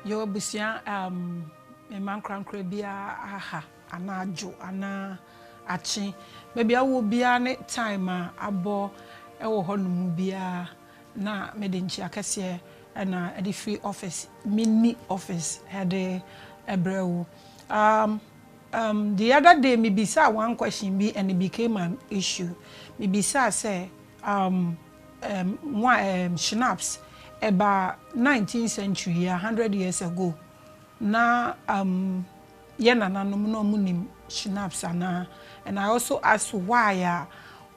Yɛwɔ abusua um, mma nkorankora biara aha anaa adwo anaa akye. Baabi awo biara ne time a abɔ wɔ hɔ no mu biara na mede nkyia kɛseɛ ɛna ɛde firi office mini office ɛde ɛbrɛ wo. Um, Um, the other day me bisaa one question bi and it became an issue. Me bisaa sɛ, um, um, wa, um, schnapps, ɛba 19th century yɛ 100 years ago, na, um, yɛ nananom na ɔmo nim schnapps anaa? And I also asked why a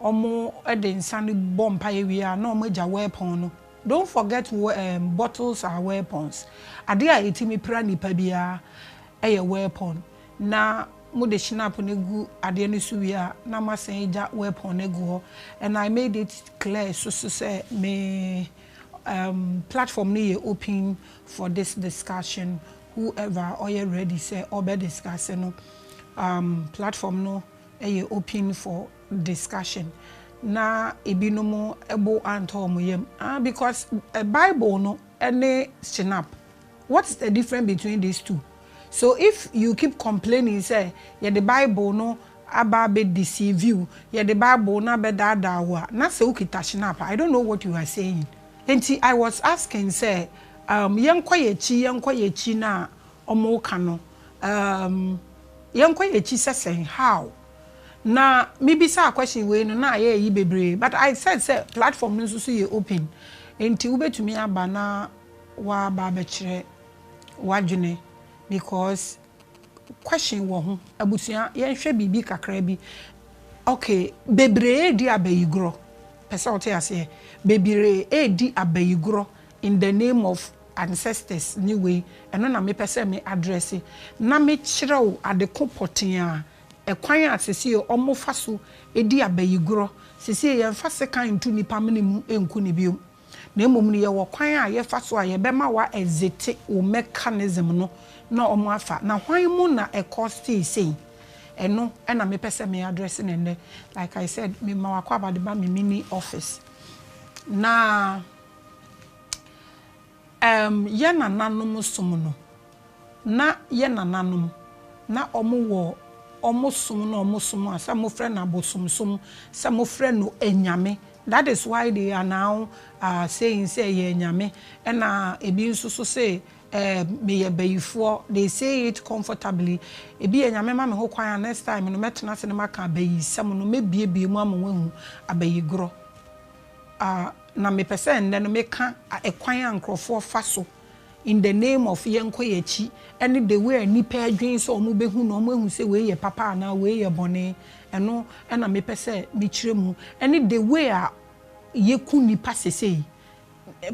ɔmo de nsa no bɔ mpaeɛ wie a na ɔmo agya weapon no. Don't forget, um, bottles are weapons. Adeɛ a ɛtumi pira nipa biara. yɛ wellpɔn na mode shinap no gu adeɛ no so wie a na moasan agya wellpɔn no agu hɔ and I made it clear so so sɛ me um platform no yɛ open for this discussion whoever ɔyɛ ready sɛ ɔbɛ discuss no um platform no yɛ open for discussion na ebinom bo antɔ wɔn yam ah because bible no ne shinap What is the difference between these two? So if you keep complaining sɛ yɛde bible no aba abɛ deceive wo, yɛde bible no abɛ daadaa wo a, na sɛ wokita Schnapp a, I don't know what you are saying. Enti I was asking sɛ um yɛnkɔ yɛakyi yɛnkɔ yɛakyi no a wɔreka no um yɛnkɔ yɛakyi sɛ sɛn, how? Na mebisaa question wei no na ayɛ ayi bebree but I said sɛ platform no nso so yɛ open enti wobɛtumi aba na W'aba abɛkyerɛ w'adwene because question wɔ ho. Abusua yɛnhwɛ biribi kakra bi ok bebree redi abayigorɔ pɛ sɛ wote aseɛ bebree redi abayigorɔ in the name of ancestors ne wei ɛno na me pɛ sɛ me address na me kyerɛ wo ade ko pɔtee a ɛkwan a sesie ɔmo fa so di abayigorɔ sesie yɛnfa sekan nto nipa mene mu nku no biom. Na mmom no, yɛwɔ kwan a yɛfa so a yɛbɛma wɔaɛdzete wo mechanism no na wɔafa. Na hwan mu na ɛkɔstee sei? Ɛno na mepɛ sɛ me address no nnɛ. Like I said, me Mawakɔaba de ba me mini office. Na um yɛn nananom som no, Na yɛ nananom, na ɔmo wɔ ɔmo som na ɔmo som a sɛ mofrɛ no abosomsom, sɛ mofrɛ no anyame, that is why they are now saying sɛ yɛ anyame, ɛna ebi nso so se eh meyɛ bayifoɔ, they say it comfortably, ebi Nyame ma me ho kwan a next time no mɛtena ase na maka abayisɛm no, mɛbuebue mu ama wɔahu abayigorɔ ah na mepɛ sɛ nnɛ no meka ɛkwan a nkorɔfoɔ fa so In the name of yɛnkɔ yɛakyi ɛne the way a nnipa adwene sɛ wɔn bɛhu no, wɔn ahu sɛ wei yɛ papa anaa wei yɛ bɔne, ɛno na mepɛ sɛ mekyerɛ mu, ɛne the way a yɛku nnipa sesei,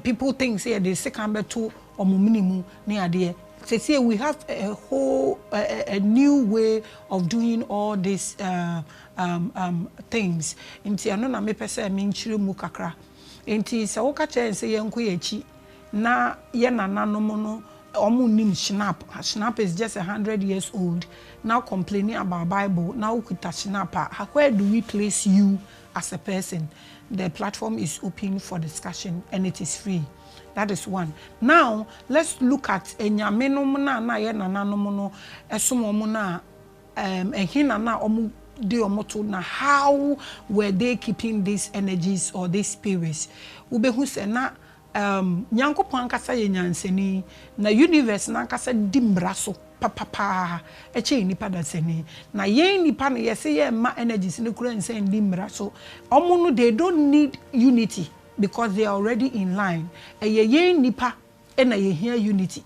people think sɛ yɛde sekan bɛto wɔn mene mu ne adeɛ, sesei we have a whole a new way of doing all this um um things, nti ɛno na mepɛ sɛ menkyerɛ mu kakra, nti sɛ woka kyerɛ yɛn sɛ yɛnkɔ yɛakyi Na yɛ nananom no ɔmo nnim Schnapp, Schnapp is just a hundred years old na wo complaining about bible na wo kuta Schnapp a where do we place you as a person? The platform is open for discussion and it is free that is one now let's look at anyame nom no a na yɛ nananom no ɛsom ɔmo no a um ɛhena na ɔmo de ɔmo to na how were they keeping these energies or these spirits? Wo bɛ hu sɛ na Umm Nyankopɔn ankasa yɛ Nyansani, na Universe no ankasa di mmara so papa paa kyɛn nnipa dasani. Na yɛn nnipa no yɛse yɛmma energies no koraa nsan nni mmara so. Wɔn no they don't need unity because they are already in line. Ɛyɛ yɛn nnipa na yɛhia unity.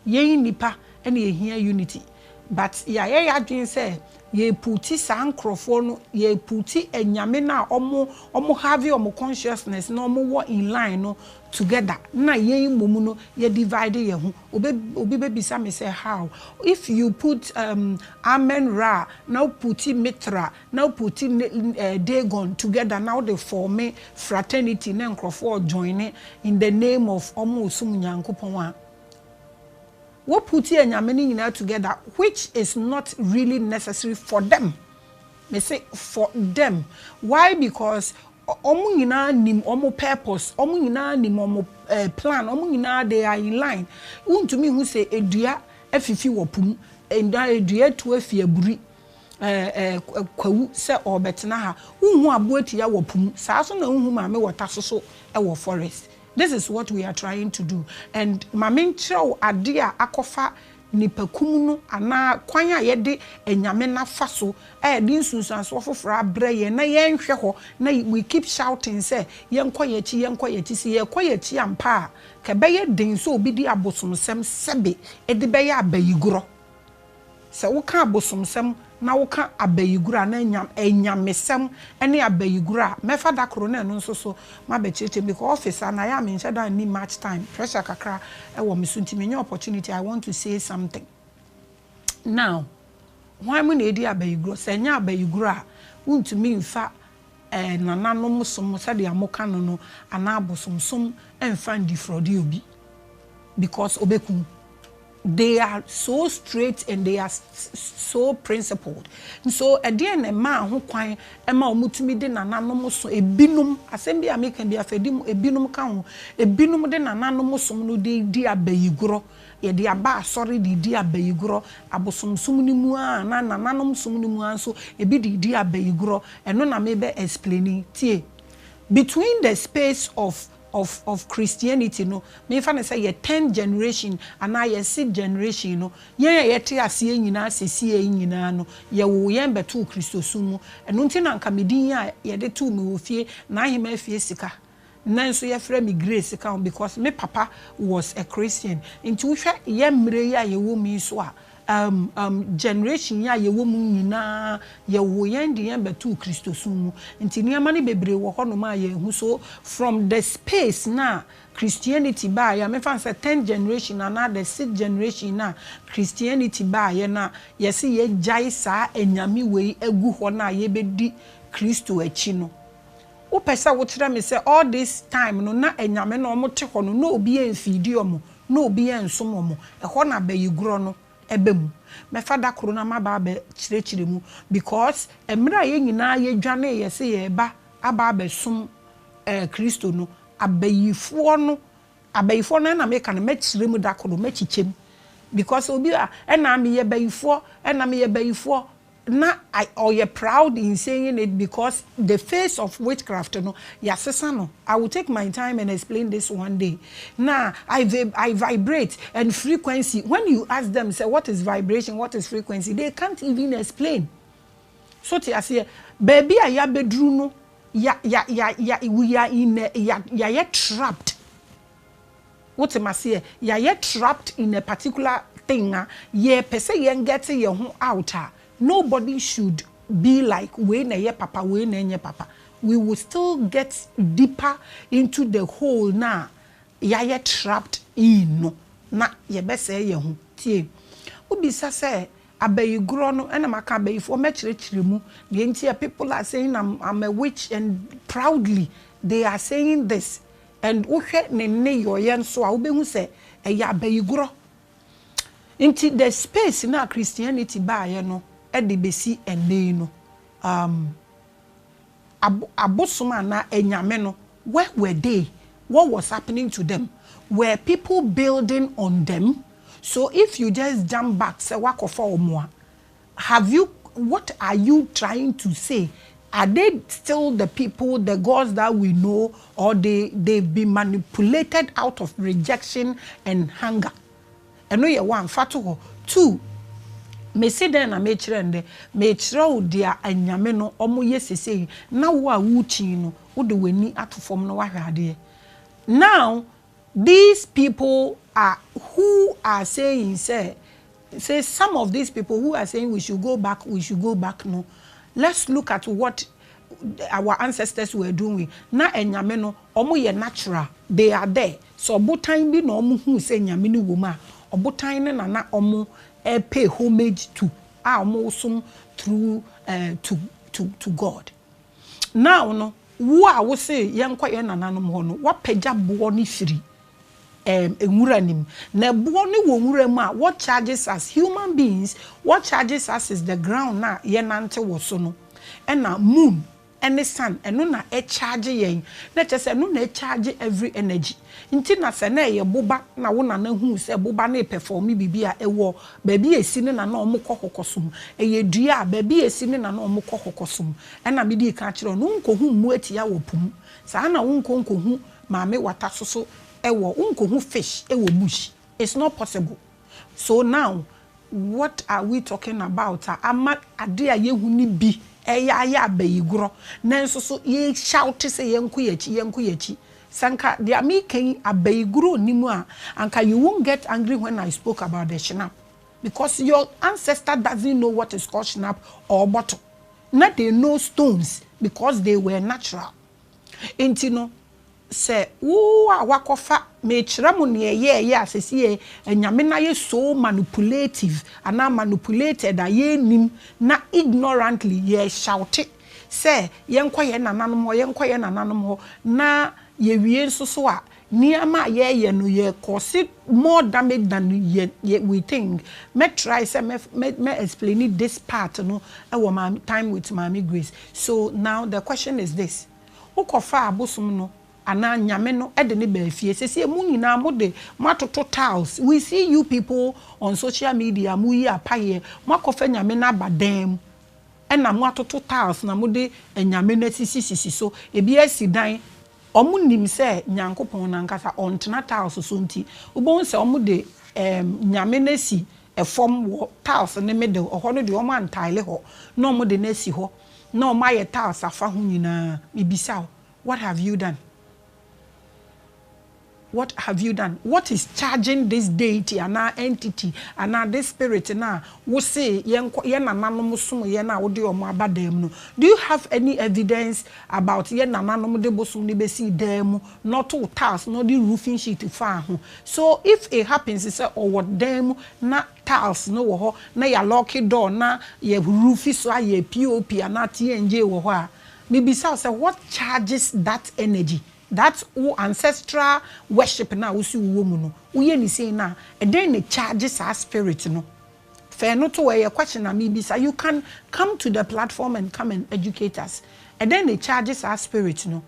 Yɛn nnipa na yɛhia unity but yɛayɛ yɛadwene sɛ yɛrepuuti saa nkorɔfoɔ no, yɛrepuuti anyame no a ɔmo ɔmo have ɔmo consciousness na ɔmo wɔ in line no together na yɛn mmom no yɛ divide yɛn ho. Obe obi bɛbisa me sɛ how? If you put um Amen-Ra na wopuuti Mithra na wo put Dagon together na wo de forme fraternity na nkurɔfoɔ joine in the name of wɔn resom Nyankopɔn a, wo put anyame no nyinaa together which is not really necessary for them, me se for them, why because wɔn nyinaa nim wɔn purpose, wɔn nyinaa nim wɔn plan, wɔn nyinaa they are in line, wontumi nhu se dua afifi wɔ po mu, dua atu afi aburi. Kwawu sɛ ɔrebɛtena ha. Wonhu aboa tua wɔ po mu saa so na wonhu maame wɔ ta so so wɔ forest. This is what we are trying to do and ma me nkyerɛ wo ade a akɔfa nnipakum no anaa kwan a yɛde anyame no afa so a ɛde nsunsuansoɔ foforɔ abrɛ yɛn na yɛnhwɛ hɔ na we keep shouting sɛ yɛnkɔ yɛn akyi, yɛnkɔ yɛn akyi. Sɛ yɛkɔ yɛn akyi ampa a, ka ɛbɛyɛ den sɛ obi de abosomsɛm sɛbe de bɛyɛ abayigorɔ. Sɛ woka abosomsɛm na woka abayigoro anaa anya anyamesɛm ne abayigoro a, mɛfa da koro na ɛno nso so mabɛkyerɛkyerɛ mu because office ha no ayɛ a menhyɛ da nni much time, pressure kakra wɔ me so nti menya opportunity a, I want to say something. Now, hwan mu na ɛredi abayigorɔ? Sɛ ɛnyɛ abayigorɔ a, wontumi mfa eh, nananom som sɛdeɛ moka no no anaa abosomsom mfa ndifrɔde obi because ɔbɛku wo. They are so straight and they are so principled. Nso ɛdeɛn na ɛmaa ho kwan ma wɔtumi de nananom so, ebinom, asɛm bi a meka bi afei de ebinom ka ho, ebinom de nananom som no de redi abayigorɔ, yɛde aba asɔre de redi abayigorɔ, abosomsom no mu ara anaa nananom som no mu ara nso ebi de redi abayigorɔ, ɛno na merebɛ explain yi, tie, Between the space of of of Christianity no, memfa no sɛ yɛ tenth generation anaa yɛ sixth generation no, yɛn a yɛte aseɛ nyinaa sesie yi nyinaa no, yɛwoo yɛn bɛtoo Kristosom mu. Ɛno nti na anka me din a yɛde too me wɔ fie, N'Ahemaa Fie Sika, nnɛ nso yɛfrɛ me Grace ka ho because me papa was a Christian. Nti wohwɛ yɛn mmerɛ yi a yɛwɔ mu yi nso a, Um, um, generation yi a yɛwɔ mu nyinaa, yɛwoo yɛn de yɛn bɛtoo Kristosom mu, nti nneɛma no bebree wɔ hɔnom a yɛnhu. So, from the space no a Christianity baeɛ a, memfa no sɛ tenth generation anaa the sixth generation no a Christianity baeɛ no a, yɛse yɛagyae saa anyame wei agu hɔ no a yɛbɛdi Kristo akyi no, Wopɛ sɛ wokyerɛ me sɛ all this time no na anyame no wɔn te hɔ no na obi a nfiidi wɔn na obi a nsom wɔn ɛhɔ na bayigorɔ no ɛba mu mɛfa da koro na maba abɛ kyerɛkyerɛ mu because ɛmerɛ a yɛn nyinaa yɛ dwanee yɛ sɛ yɛreba aba abɛ som ɛɛ kristo no abayifoɔ no abayifoɔ no ɛna meka no mɛkyerɛ mu da koro mɛkyikyɛ mu because obi a ɛna meyɛ bayifoɔ ɛna meyɛ bayifoɔ na ɔyɛ proud in saying it because the face of witchcraft no yɛasesa no, I will take my time and explain this one day, na I I vibrate and frequency, when you ask them sɛ what is vibration, what is frequency, they can't even explain. So te aseɛ, baabi a yɛabɛduru no, ya, ya, ya, ya, we are in a, ya, yɛayɛ trapped. Wote maseɛ? Yɛayɛ trapped in a particular thing a yɛpɛ sɛ yɛn gɛte yɛn ho out a, nobody should be like wei na ɛyɛ papa, wei na ɛnyɛ papa. We will still get deeper into the hole no a yɛayɛ trapped in no na yɛbɛsɛe yɛn ho. Tie, wobisa sɛ abayigorɔ no, ɛna maka abayifoɔ mɛkyerɛkyerɛ mu deɛ nti a people are saying I'm a witch and proudly they are saying this. And wohwɛ ne nneyɔeɛ nso a wobɛhu sɛ ɛyɛ abayigorɔ. Nti the space no a Christianity baeɛ no de bɛsi ɛnnɛ yi no um abo abosom anaa anyame no where were they? What was happening to them? Were people building on them? So if you just jump back sɛ woakɔfa wɔn a, Have you what are you trying to say are they still the people the gods that we know or they they've been manipulated out of rejection and hunger ɛno yɛ one fa to hɔ two mesi dɛn na mekyerɛ ndɛ mekyerɛ wo dea anyame no ɔmo yɛ sesei na wo a wokyin no wode w'ani ato fam na wahwɛ adeɛ now These people are who are saying sɛ sɛ some of these people who are saying we should go back we should go back no let's look at what our ancestors were doing na anyame no ɔmo yɛ natural they are there sɛ ɔbotan bi na ɔmo huu sɛ nyame no wɔ mu a ɔbotan no na na ɔmo pay homage to a ɔmo som through to to to God. Now no, wo a wo se yɛnkɔ yɛn nananom hɔ no, woapagya boɔ no firi ɛɛm nwura no mu. Na ɛboɔ no wɔ nwura mu a, what charges us human beings, what charges us is the ground no a yɛnante wɔ so no, ɛna moon ne sun, ɛno na ɛcharge yɛn, na kyerɛ sɛ ɛno na ɛcharge every energy. Nti na sɛ na ɛyɛ boba na wo nana huu sɛ boba no repɛfɔɔme biribi a, ɛwɔ baabi a ɛsi ne na na wɔkɔ kɔkɔsom. Ɛyɛ dua a baabi a ɛsi ne na na wɔkɔ kɔkɔsom. Ɛna medii kan kyerɛɛ no, Wonkɔhu mmoatia wɔ po mu. Saa na wonkɔ nkɔhu maame wata so so wɔ wonkɔhu fish wɔ bush. It's not possible. So now what are we talking about a ama ade a yɛhu no bi reyɛ ayɛ abayigorɔ nanso so yɛreshoute sɛ yɛnko yɛn akyi, yɛnko yɛn akyi. Sɛ anka deɛ mereka yi abayigorɔ nni mu a, anka you won't get angry when I spoke about the Schnapp because your ancestor doesn't know what is called Schnapp or bottle. Na they know stones because they were natural. Enti no, Sɛ wo a woakɔfa mekyerɛ mo nea ɛyɛ ɛyɛ a sɛsi yɛ anyame no ayɛ so manupulative anaa manupulated a yɛnnim na ignorantly yɛ shoute sɛ yɛnkɔ yɛn nananom hɔ yɛnkɔ yɛn nananom hɔ na yɛwie nso so a nneɛma a yɛyɛ no yɛ cause more damage than yɛ we think mɛ try sɛ mɛ explaini this part no wɔ maame time with maame Grace so now the question is this. Wokɔfaa abosom no anaa nyame no de no baa fie. Sesie mo nyinaa mo de mo atoto tiles. We see you people on social media mo yi apayeɛ. Mo akɔfa nyame no aba dan mu ɛna mo atoto tiles na mo de anyame no asisi sisi so. Ebi asi dan. Wɔn nim sɛ Nyankopɔn no ankasa ɔntena tiles so nti. Wobɛhu sɛ wɔn de ɛɛm nyame no asi fam wɔ tiles ne middle ɛhɔ no deɛ wɔn an tile hɔ na wɔn de no asi hɔ na wɔn ayɛ tiles afa ho nyinaa me bisa wo what have you done what have you done what is charging this deity anaa entity anaa this spirit no a wo se yɛn kɔ yɛn nananom som yɛn a wo de wɔn aba dan mu no do you have any evidence about yɛn nananom de bosom no bɛsii dan mu na ɔtoo tiles na ɔde roofing sheet faa ho So if it happens sɛ ɔwɔ dan mu na tiles no wɔ hɔ na yɛ alɔɔke door na yɛ ruufi so ayɛ POP anaa TNJ wɔ hɔ a, mebisa wo sɛ what charges that energy, that wo ancestral worship no a wose wowɔ mu no, woyɛ no sei no a, ɛdɛn na ɛcharge saa spirit no? Fa ɛno to hɔ, ɛyɛ question a mebisa. You can come to the platform and come and educate us. Ɛdɛn na ɛcharge saa spirit no?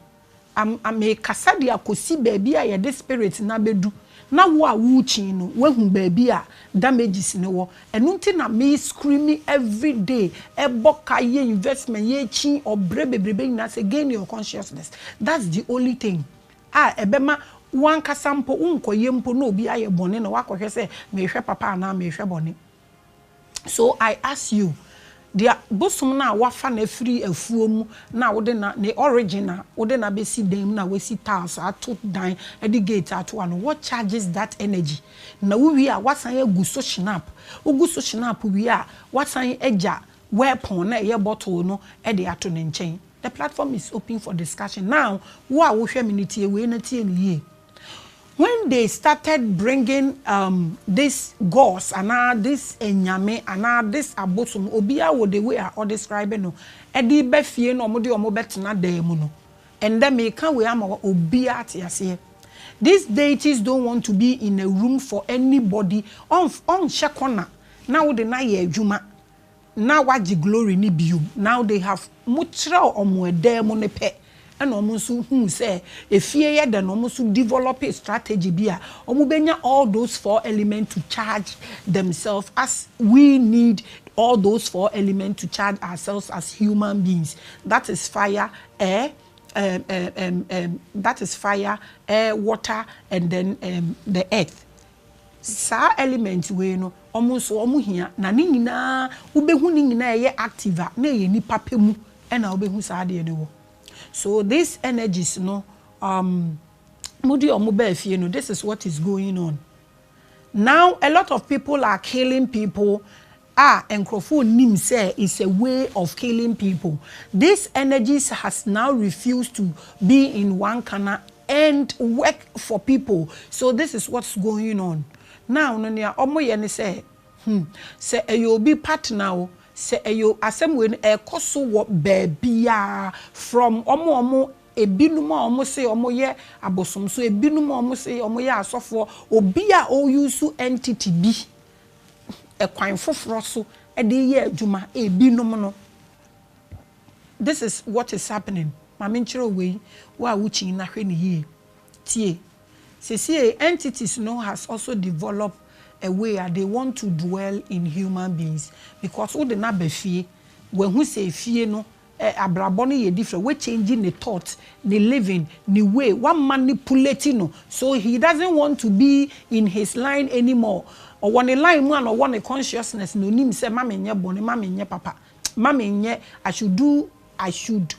Am merekasa de akɔsi baabi a yɛde spirit no abɛdu na wo a worekyin no woahu baabi a damages no wɔ. Ɛno nti na me scream everyday, ɛbɔ ka, yɛ investment, yɛrekyin, ɔbrɛ bebrebe nyinaa sɛ gain your consciousness. That's the only thing a ɛbɛma wo ankasa mpo wonkɔyɛ mpo na obi ayɛ bɔne na woakɔhwɛ sɛ merehwɛ papa anaa merehwɛ bɔne. So I ask you, deɛ bosom no a woafa no afiri afuo mu na wode no, ne origin a wode no abɛsi dan mu na woasi tiles ato dan de gate ato ano, what charges that energy? Na wowie a woasan agu so shinap, wogu so shinap wie a woasan agya w'ɛpɔn no a ɛyɛ bottle no de ato ne nkyɛn. The platform is open for discussion. Now wo a wohwɛ me no tie wei na tie no yie. When they started bringing um this gods anaa this anyame anaa this abosom, obiara wɔ the way a ɔ describe no, de ba fie na wɔde wɔn bɛtena dan mu no, ɛnnɛ meka wei ama wo a obiara te aseɛ, these deities don't want to be in a room for anybody, ɔnf ɔnhyɛ corner na wode no ayɛ adwuma, Now wagye glory no biom now they have ɔmo kyerɛw ɔmo ɛdan mu no pɛ ɛna ɔmo nso huu sɛ efie yɛ dɛ na ɔmo nso developee strategy bi a ɔmo bɛnya all those four element to charge themselves as we need all those four element to charge ourselves as human beings that is fire, air um um um um that is fire, air, water and then um the earth Saa element wei no wɔn nso wɔn hia na ne nyinaa wobɛhu ne nyinaa ɛyɛ active a na ɛyɛ nipa pɛ mu na wobɛhu saa adeɛ no wɔ. So this energies no um mode wɔn baa fie no this is what is going on. Now a lot of people are killing people a nkurɔfo nnim sɛ it's a way of killing people, this energies has now refused to be in Wankana and work for people so this is what's going on now no nea wɔyɛ ne sɛ hmm sɛ ɛyɛ obi partner o sɛ ɛyɛ asɛm wei no ɛkɔ so wɔ baabiara from wɔn a wɔn ebinom a wɔn se wɔn yɛ abosomso ebinom a wɔn se wɔn yɛ asɔfoɔ obi a ɔuse entity bi kwan foforɔ so de reyɛ adwuma, binom no, this is what is happening, ma menkyerɛ wo wei, wo a wokyin no hwɛ no yie, tie, sesie entities no has also develop a way a they want to dwell in human beings because wode no aba fie, wahu sɛ fie no Eh abrabɔ no yɛ different wa change ne thought ne living ne way wa manipulate no so he doesn't want to be in his line anymore ɔwɔ ne line mu a na ɔwɔ ne consciousness na ɔnim sɛ ma me nyɛ bɔne ma me nyɛ papa ma me nyɛ I should do I should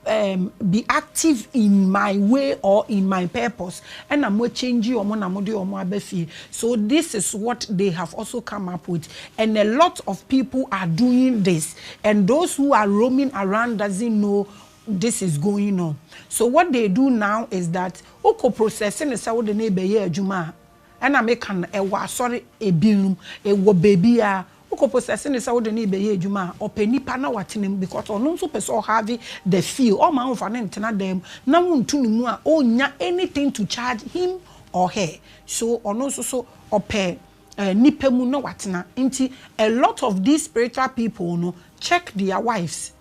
ehm be active in my way or in my purpose ɛna mo a change wɔn na mo de wɔn aba fie so this is what they have also come up with and a lot of people are doing this. And those who are roaming around doesn't know this is going on so what they do now is that wo kɔ process no sɛ wode no rebɛyɛ adwuma a ɛna me ka no ɛwɔ asɔre ebinom ɛwɔ baabiara wo kɔ process no sɛ wode no rebɛyɛ adwuma a ɔpɛ nipa na watena mu because ɔno nso pɛ sɛ ɔhave the feel ɔma wonfa no ntena dan mu na wonto no mu a ɔnnya anything to charge him or her so ɔno nso so ɔpɛ. eh, nipa mu na watena nti a lot of these spiritual people no check their wives,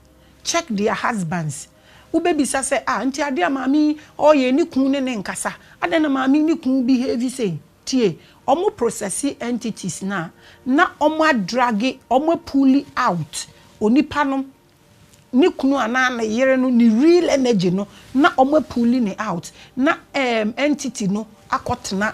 check their husbands, wo bɛ bisa sɛ ah nti adeɛ a maame yi ɔɔyɛ ne kun ne ne nkasa adɛn na maame yi ne kun behave sei tie ɔmo processi entities no a na ɔmo adrage ɔmo apuli out onipa no ne kunu anaa ne yere no ne real energy no na ɔmo apuli ne out na um, entity no akɔtena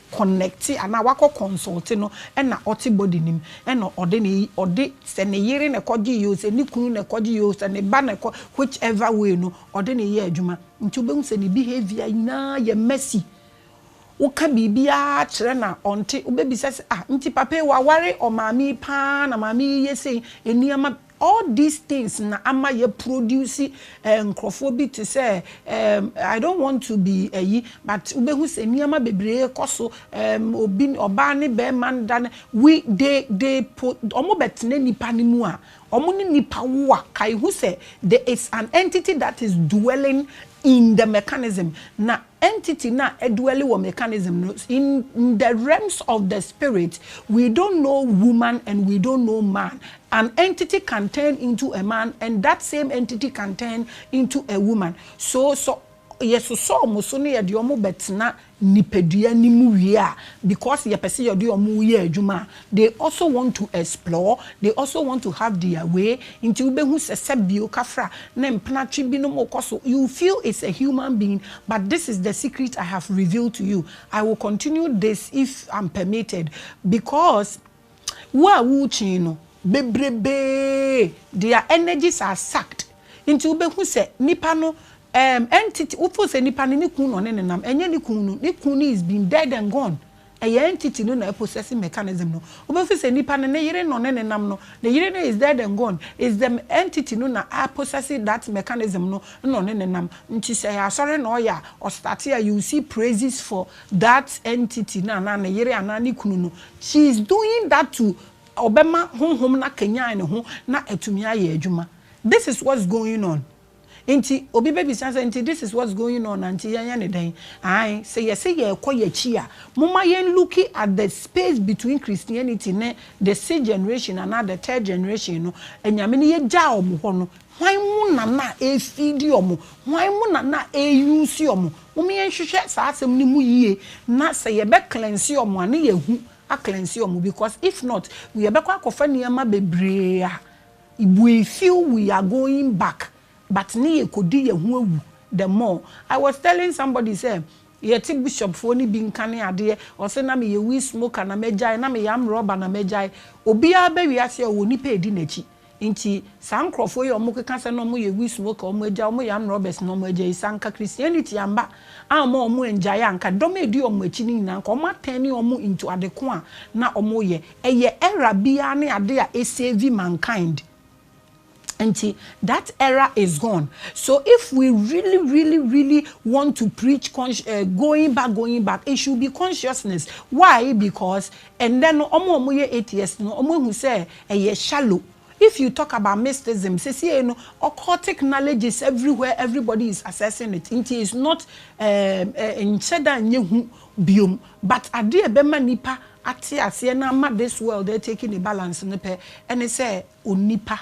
connecte anaa wakɔ consulte no na ɔte body no mu na ɔde ne ɔde sɛ ne yere na ɛkɔgyee oo sɛ ne kunu na ɛkɔgyee oo sɛ ne ba na ɛkɔ which ever way no ɔde ne yɛ adwuma nti wobɛhu sɛ ne behaviour nyinaa yɛ messy woka biribiara kyerɛ no a ɔnte wobɛbisa sɛ ah nti papa yi waware ɔmaame yi paa na maame yi yɛ sei nneɛma All these things na ama yɛ produce eh nkorɔfoɔ bi te sɛ eh I don't want to be ayi but wo bɛ hu sɛ nneɛma bebree kɔ so eh obi ɔbaa ne bɛɛma nda ne we they they po ɔmo bɛ tena nipa no mu a ɔmo ne nipa wo a ka ehu sɛ there is an entity that is dwelling in the mechanism na entity no a ɛduɛli wɔ mechanism no in the realms of the spirit we don't know woman and we don't know man an entity can turn into a man and that same entity can turn into a woman so sɔ yɛ sosɔ ɔmo so ne yɛde ɔmo bɛtena nipadua no mu wie a because yɛpɛ sɛ yɛde ɔmo yɛ adwuma a They also want to explore, they also want to have their way, nti wobɛhu sɛ sɛbio kafra ne mpena twe binom rekɔ so, you will feel it's a human being but this is the secret I have revealed to you, I will continue this if I'm permitted because wo a worekye no bebrebee their energies are sucked nti wobɛhu sɛ nipa no um entity, wo feel sɛ nipa no ne kun na ɔne no nam, ɛnyɛ ne kun no, ne kun no is been dead and gone Ɛyɛ entity no na ɛpossess mechanism no. Wobɛhu sɛ nipa no, ne yere no ne ne nam no, ne yere no is dead and gone, is the entity no na a possess that mechanism no na ɔne ne nam. Nti sɛ ɛyɛ asɔre na ɔyɛ a, ɔstarte a you will see praises for that entity no anaa ne yere anaa ne kunu no. She is doing that to ɔbɛma honhom no akanyan ne ho na atumi ayɛ adwuma. This is what's going on. Nti obi bɛbisa sɛ, nti this is what's going on a, nti yɛnyɛ no dɛn? Aane, sɛ yɛse yɛrekɔ yɛn akyi a, momma yɛn looki at the space between Christianity ne the sixth generation anaa the third generation no, Anyame no yɛgyaa wɔn hɔ no, hwan mu na na ɛrefidi wɔn? Hwan mu na na ɛreusi wɔn? Momma yɛnhwehwɛ saa asɛm no mu yie na sɛ yɛbɛ cleanse wɔn a, na yɛahu a cleanse wɔn because if not, yɛbɛkɔ akɔfa nneɛma bebree a, We feel we are going back but ne yɛ kɔ di yɛ ho awu the more. I was telling somebody sɛ yɛ te bishop foɔ no bi nka ne adeɛ ɔse na me yɛ weed smoker na mɛ gyae na me yɛ arm robber na mɛ gyae obiara aba wiase a ɔwɔ nipa ɛdi nakyi nti saa nkorɔfoɔ yi a ɔmo keka sɛ na ɔmo yɛ weed smoker ɔmo agyae ɔmo yɛ arm robbers na ɔmo agyae yi sɛ anka Christianity amba amma ɔmo angyae a anka dɔm a ɛdi ɔmo akyi no nyinaa anka ɔmo atɛne ɔmo into adeko a na ɔmo yɛ Ɛyɛ era biara ne ade a ɛsave mankind nti that era is gone so if we really really really want to preach consci eh going back going back it should be consciousness why because ɛnnɛ no wɔn a wɔn yɛ atheist no wɔn ahu sɛ ɛyɛ shallow if you talk about mysticism sesiei no occultic knowledge is everywhere everybody is accessing it nti is not eh eh nhyɛda nyɛ hu biom but adeɛ a ɛbɛma nipa ate aseɛ na ama this world atake ne balance no pɛ ne sɛ onipa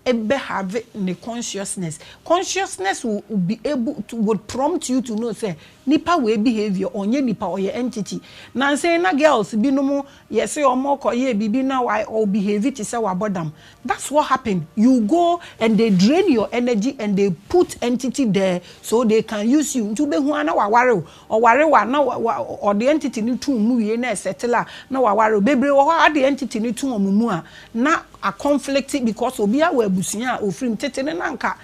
bɛ have ne consciousness, consciousness will be able to would prompt you to know sɛ nipa wei behaviour ɔnyɛ nipa ɔyɛ entity, nansa yi na girls bi nom yɛse wɔn rekɔ yɛ biribi na wa ɔ behave te sɛ wabɔ dam that's what happen you go and they drain your energy and they put entity there so they can use you nti wobɛhu ara na waware wo. Ɔware wa na ɔde entity no to mu wie na ɛsettle a na waware wo. Bebree wɔ hɔ a ade entity no to wɔn mu a na a conflict because obiara wɔ abusua a ɔfiri mu. Tete no na anka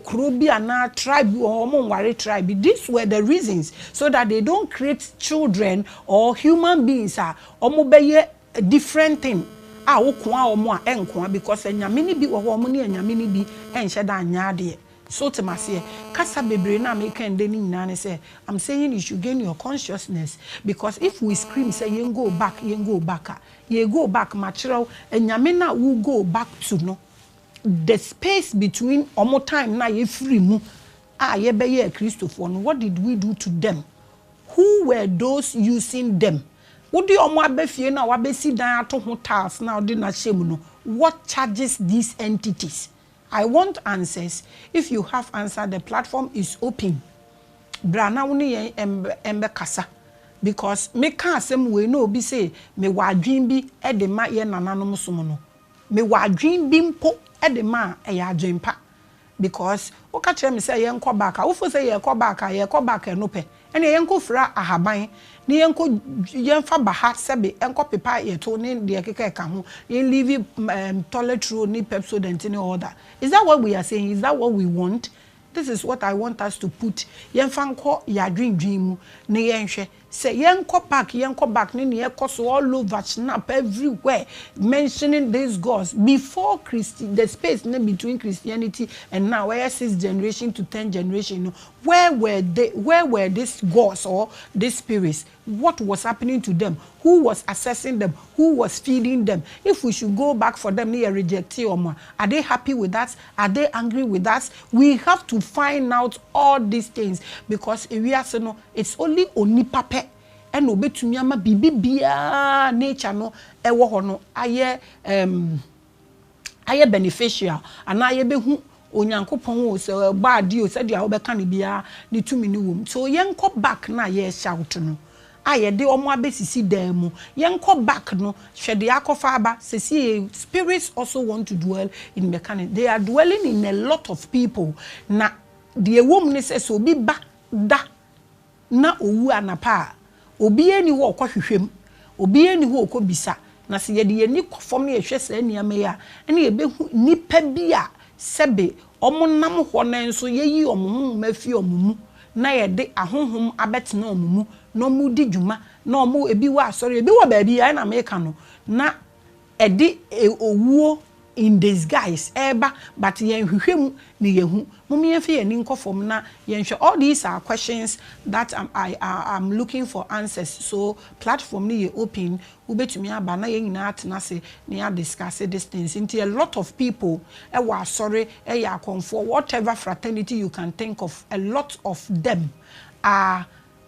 kuro bi anaa tribe bi wɔ hɔ a wɔn nware tribe bi. These were the reasons so that they don't create children or human beings a wɔbɛyɛ A different thing a wo koa wɔn a ɛnkoa because anyame no bi wɔ hɔ a wɔn ne anyame no bi nhyɛ da nyɛ adeɛ so wote me aseɛ kasa bebree no a meka ndɛ no nyinaa ne sɛ am saying you should gain your consciousness because if we scream sɛ yɛn go back yɛn go back a yɛ go back makyerɛ wo anyame no a wo go back to no the space between wɔn time no a yɛfiri mu a yɛbɛyɛɛ Kristofoɔ no what did we do to them Who were those using them? Wode wɔn aba fie no a wabɛsi dan ato ho tiles no a wode no ahyɛ mu no, what charges these entities? I want answers, if you have answer the platform is open. Bra na wo ne yɛn mmɛkasa because meka asɛm wei na obi se mewɔ adwene bi de ma yɛn nananom som no. Mewɔ adwene bi mpo de ma a, ɛyɛ adwene pa. Because wo ka kyerɛ me sɛ yɛn kɔ back a wo fo sɛ yɛ kɔ back a yɛ kɔ back ɛno pɛ ɛneɛ yɛn kɔ fira ahaban ne yɛn kɔ yɛn fa ba ha sɛbe nkɔ pepa yɛ to ne deɛ ɛkeka ɛka ho yɛn live um toilet roll ne pepsodent ne all that is that what we are saying is that what we want this is what I want us to put yɛn fa nkɔ yɛ adwendwen mu ne yɛn hwɛ. Sɛ yɛnkɔ park yɛnkɔ back ne nea ɛkɔ so all over chnap everywhere mentioning these gods before christ the space ne between christianity and now ɛyɛ sixth generation to tenth generation no where were they where were these gods or these spirits what was happening to them who was assessing them who was feeding them if we should go back for them ne yɛ rejectee wɔn a are they happy with that Are they angry with us? We have to find out all these things because ewiase no it's only onipa pɛ ɛna ɔbɛtumi ama biribi biara nature no ɛwɔ hɔ no ayɛ um ayɛ beneficial anaa yɛbɛhu Onyankopɔn o, sɛ ɔbɔ adeɛ o, sɛdeɛ wobɛka no biara ne tumi no wɔ mu. So yɛnkɔ back no a yɛreshout no a yɛde wɔn abɛsisi dan mu, yɛnkɔ back no, hwɛ deɛ akɔfa aba, sesie spirits also want to dwell in mechanic, they are dwelling in a lot of people, na deɛ ɛwɔ mu ne sɛ, sɛ obi ba da na ɔwu anapa a, obiara nni hɔ a ɔkɔ hwehwɛ mu, obiara nni hɔ a ɔkɔ bisa, na sɛ yɛde yɛn ani kɔ fam na yɛhwɛ saa nneɛma yi a, ɛnna yɛbɛhu nnipa bi a sɛbe wɔnam hɔ no nso yɛyi wɔn honhom afi wɔn mu na yɛde ahonhom abɛtena wɔn mu na wɔredi dwuma na wɔn ebi wɔ asɔre ebi wɔ baabi ayɛ na meka no na ɛde owuo in disguise ɛreba but yɛn hwehwɛ mu na yɛhu mom yɛnfa yɛn ani nkɔ fam na yɛnhwɛ all these are questions that am I am looking for answers so platform no yɛ open wobɛtumi aba na yɛn nyinaa atena ase na yɛ adiscase this things nti a lot of people wɔ asɔre yɛ akɔmfoɔ whatever fraternity you can think of a lot of them are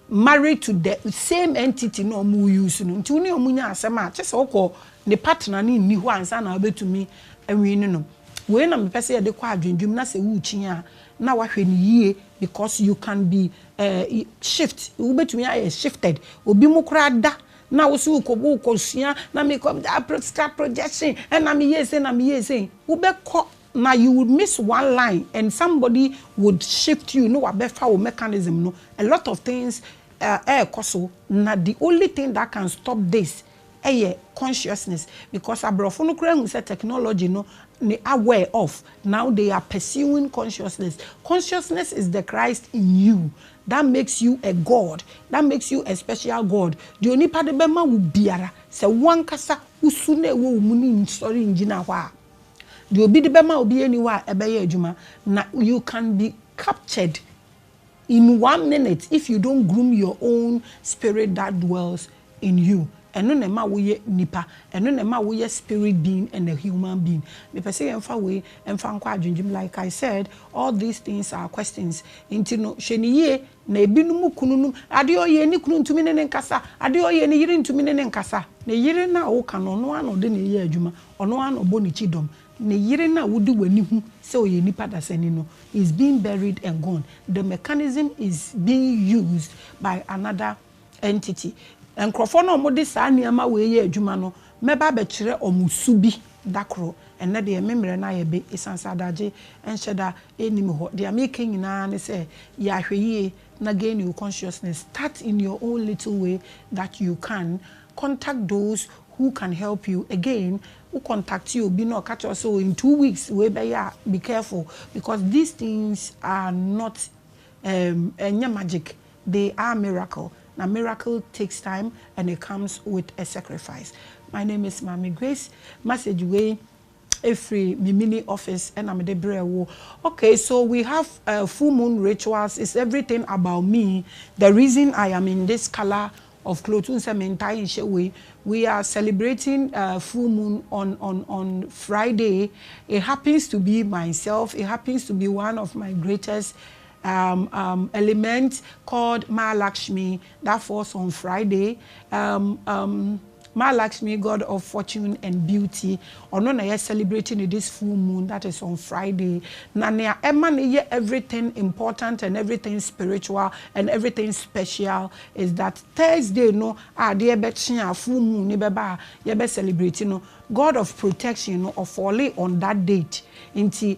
married to the same entity na ɔmo use no nti wo ne ɔmo nya asɛm a kyesɛ wokɔ nipa tena ne nni hɔ ansa na wobɛtumi awini no wei na mepɛ sɛ yɛde kɔ adwendwem na sɛ wokyin a na wahwɛ no yie because you can be eh shift wobɛtumi ayɛ shifted obi mo koraa da Na wo so wokɔ wokɔ sua na me kɔ apro sika projection ɛna me yɛ sei na me yɛ sei wo bɛ kɔ na you would miss one line and somebody would shift you na wa bɛ fa wo mechanism no a lot of things ɛɛ ɛɛkɔ so na the only thing that can stop this ɛyɛ consciousness because abrɔfo no koraa hu sɛ technology no ne aware of now they are pursuing consciousness consciousness is the Christ in you That makes you a God, that makes you a special God, deɛ onipa de bɛma wo biara, sɛ wo ankasa wo su no a ɛwɔ wo mu no nsɔre ngyina hɔ a, deɛ obi de bɛma wo biara nni hɔ a ɛbɛyɛ adwuma. Na you can be captured in one minute if you don't groom your own spirit that dwells in you ɛno na ɛma wo yɛ nipa ɛno na ɛma wo yɛ spirit being and a human being mepɛ sɛ yɛn fa wei nfa nkɔ adwendwem like I said all these things are questions nti no hwɛ no yie na ebinom kunu nom adeɛ ɔyɛ ne kunu ntumi ne ne nkasa adeɛ ɔyɛ ne yere ntumi ne ne nkasa ne yere no a wo ka no ɔno ara na ɔde ne yɛ adwuma ɔno ara na ɔbɔ ne kyi dɔm ne yere no a wo de w'ani hu sɛ ɔyɛ nipa dasani no is being buried and gone the mechanism is being used by another Nti, nkurɔfoɔ no a wɔde saa nneɛma wei yɛ adwuma no, mɛba abɛkyerɛ wɔn su bi da koro. Ɛnnɛ deɛ, me mmerɛ no ayɛ be ɛsiane sɛ adagye nhyɛ da nni me hɔ. Deɛ mereka nyina ara ne sɛ, yɛ ahwɛyie na gain your consciousness. Start in your own little way that you can. Contact those who can help you. Again, wo contacte obi na ɔka kyerɛ wo sɛ, oh, in two weeks wei bɛyɛ a, be careful because these things are not, um, ɛnyɛ magic. They are miracle na miracle takes time and it comes with a sacrifice my name is Maame Grace message wei ɛfiri me mini office ɛna mede brɛɛ wo okay so we have uh, full moon rituals is everything about me the reason I am in this colour of clothes wohu sɛ mentae nhyɛ wei we are celebrating uh, full moon on on on Friday it happens to be myself it happens to be one of my greatest um, um, element called Mahalakshmi that falls on Friday, um, um, Mahalakshmi, god of fortune and beauty, ɔno na yɛ celebrate no this full moon that is on Friday. Na nea ɛma no yɛ everything important and everything spiritual and everything special is that Thursday no a adeɛ bɛkye a full moon no bɛba a yɛbɛ celebrate no, god of protection no ɔfɔle on that date nti,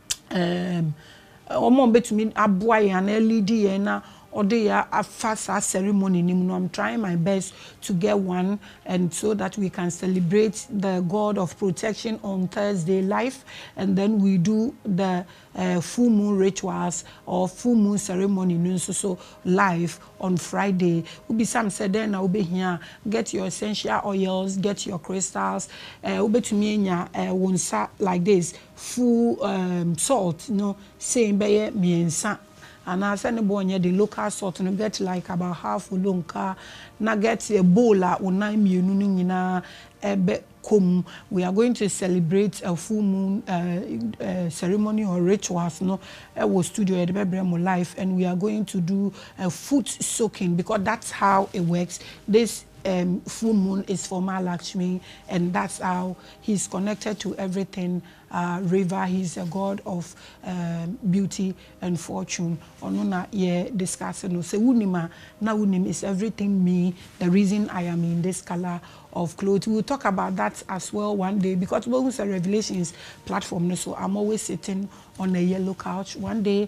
wɔn a wɔbɛtumi aboa yɛn anaa leadi yɛn na wɔde yɛn afa saa ceremony no mu no, I'm trying my best to get one and so that we can celebrate the God of protection on Thursday live and then we do the uh, full moon rituals or full moon ceremony no nso so live on Friday. Wobisam sɛ dɛn na wobɛhia get your essential oils, get your crystals, uh, wobɛtumi anya uh, wo nsa like this. full um salt no sei bɛyɛ mmiɛnsa anaa sɛ ne bo nyɛ den local salt no get like about half olonkaa na get a bowl a wo nan mmienu no nyinaa ɛbɛ kɔ mu we are going to celebrate a full moon um ceremony or rituals no ɛwɔ studio yɛde bɛ brɛ mo live and we are going to do a foot soaking because that's how it works this um full moon is for Mahalakshmi and that's how. He is connected to everything ah river he is a God of ehm beauty and fortune ɔno na yɛ discuss no sɛ wo nim a na wo nim is everything me the reason I am in this colour of cloth we will talk about that as well one day because wobɛhu sɛ revelations platform no so I'm always sitting on a yellow couch one day